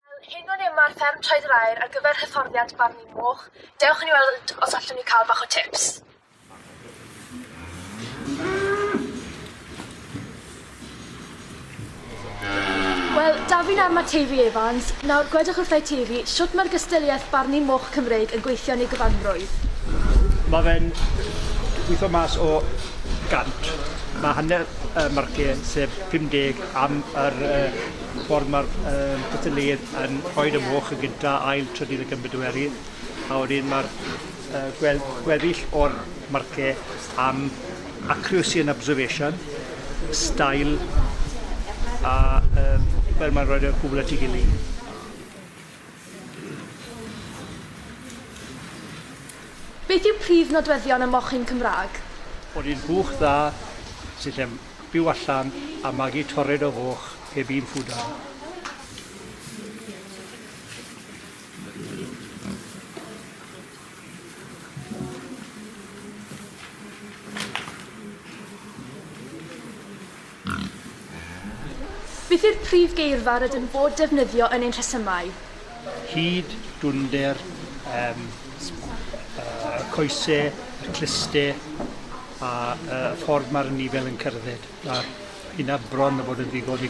Fel hyn o'n enw ar fferm Traed yr Aur ar gyfer hyfforddiant barnu moch. Dewch i ni weld os allwn ni cael bach o tips. Wel, Dafydd ar mae Teifi Evans. Nawr, gwedwch wrtha i Teifi, siwt mae'r gystyliaeth barnu moch Cymreig yn gweithio yn ei gyfanrwydd? Mae fe'n gweithio mas o gant. Mae hanner y marciau, sef 50 am yr uh, ffordd mae'r uh, cystadleuaeth yn rhoi y moch yn gyda ail trydydd y gymbedoerydd, a wedyn mae'r uh, gwel gweddill o'r marciau am accuracy and observation, style, a um, fel mae'n rhoi y gwbl at ei gilydd. Beth yw prif nodweddion y mochyn Cymraeg? Bod hi'n buwch dda sydd yn byw allan a magu tored o foch heb un ffwdan. Beth yw'r prif geirfa rydym yn bod defnyddio yn ein rhesymau? Hyd, dwnder, um, uh, coese, y cluste, a uh, ffordd mae'r nifer yn cerdded. Mae hynna bron o bod yn ddigon i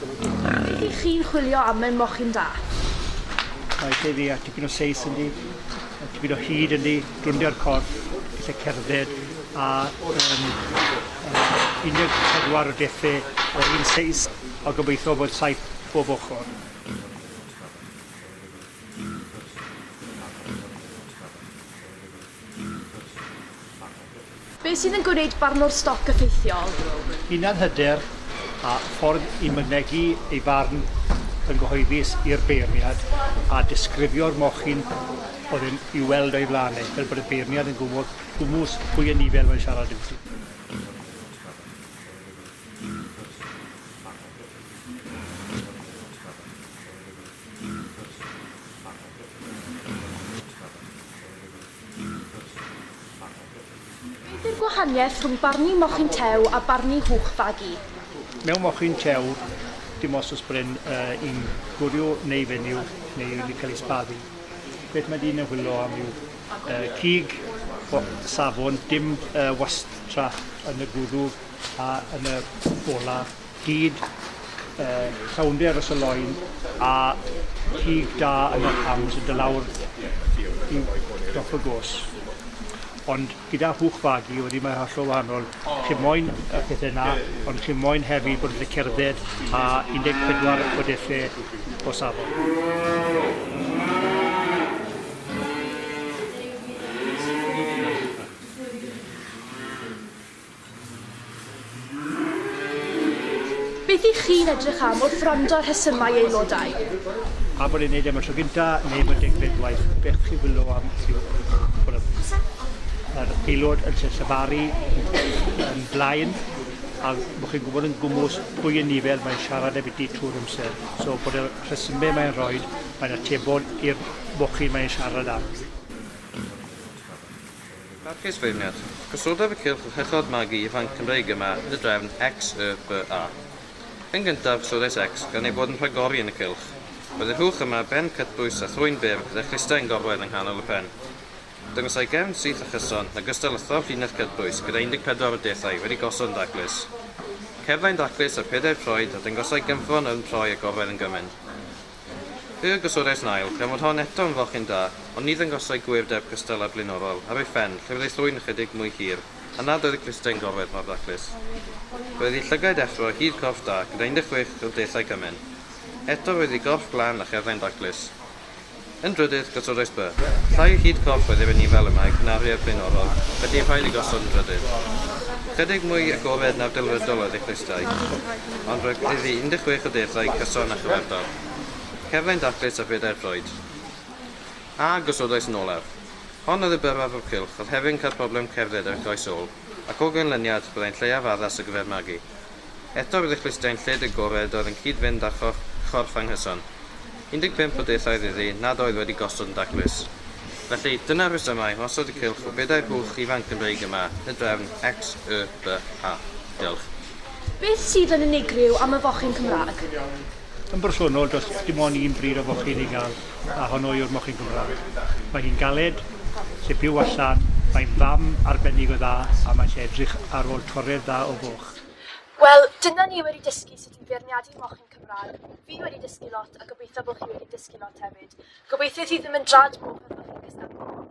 Ydych chi'n chwilio am mewn mochyn da? Mae lle fi a tipyn o seis yn di, a tipyn o hyd yn di, drwndio'r corff, lle cerdded, a um, um, 14 o defe o'r un seis, a gobeithio bod saith bob ochr. Beth sydd yn gwneud barnwr stoc effeithiol? Hunanhyder a ffordd i mynegi ei farn yn gyhoeddus i'r beirniad a disgrifio'r mochyn oedd yn i'w weld o'i flaen e, fel bod y beirniad yn gwybod gwmws pwy yn nifer mae'n siarad amddi. Beth yw'r gwahaniaeth rhwng barnu mochyn tew a barnu hwch fagu? Mewn mochyn tew, dim os oes bren uh, yn gwrio neu fenyw neu wedi cael ei sbaddu. Beth mae dyn yn hwyllo am yw uh, cig, safon, dim uh, wastraff yn y gwddw a yn y bola Hyd y llawnder y sylloin a chig da yn yr hams yn do lawr i dop y gos. Ond gyda hwch fagu wedyn mae hollol wahanol. Chi moyn y pethe 'na ond chi moyn hefyd bod yn gallu cerdded a 14 o delle o safon. Beth y'ch chi'n edrych am wrth wrando ar rhesymau aelodau? A bod e'n gwneud e am y tro gyntaf neu am y degfed gwaith, beth chi'n chwilio am yw bod yr aelod yn lle llefaru yn blaen a bod chi'n gwybod yn gwmws pwy yn ni fel mae'n siarad a byti trwy'r amser. So bod y rhesymau mae'n rhoi, mae'n atebol i'r mochyn mae'n siarad am. Parchus Feirniad. Cyswlldaf y cylch uchod magu ifanc Cymreig yma yn y drefn XYBA. Yn gyntaf, Siodes X, gan eu bod yn rhagori yn y cylch. Roedd y rhwch yma, ben cytbwys a thrwyn byr gyda chlustau yn gorwedd yng nghanol y pen. Dangosai gefn syth a chyson, yn ogystal â thorf llinell cytbwys gyda 14 o deithau wedi gosod yn daclus. Cerddai'n daclus ar pedair troed a dangosai gynffon yn troi a gorwedd yn gymaint. Yy, gosodais nail, gan fod hon eto'n fochyn da, ond ni ddangosai gwŷr deb cystal â'r blaenorol, ar ei phen, lle fyddai thrwyn ychydig mwy hir, a nad oedd y clustau'n gorwedd mor daclus. Roedd ei llygaid effro, hyd corff da, gyda 16 o deithiau cymen. Eto roedd ei gorff glân a cherddau'n daclus. Yn drydydd, gosodais by. Llai o hyd corff oedd ef yn Ifalymag na'r rhead blaenorol, felly rhaid ei gosod yn drydydd. Ychydig mwy agored na'r delfrydol oedd ei chlustai. ond roedd iddi 16 o deithiau cyson a chyfartal. Cerddai'n daclus a phedair troed. A gosodais yn olaf. Hon oedd y byrfa fwrw cylch, oedd hefyd yn cael problem cerdded ar ei throes ôl, ac o ganlyniad, byddai'n lleiaf addas ar gyfer magu. Eto roedd ei chlustiau'n lled agored oedd yn cyd-fynd â chorff anghyson. 15 o deithiau oedd iddi, nad oedd wedi gosod yn daclus. Felly, dyna'r rhesymau am osod y cylch o bedair hwch ifanc yn Gymreig yma, y drefn XYBH. Diolch. Beth sydd yn unigryw am y fochyn Cymraeg? Yn bersonol, does dim ond un bryd o fochyn i gael, a honno yw'r mochyn Cymraeg. Mae hi'n galed, lle byw allan, mae'n fam arbennig o dda a mae eisiau edrych ar ôl torredd dda o foch. Wel, dyna ni wedi dysgu sut i feirniadu mochyn Cymraeg. Fi wedi dysgu lot a gobeithio bod chi wedi dysgu lot hefyd. Gobeithio thi ddim yn drad moch os bod chi'n cystadlu moch.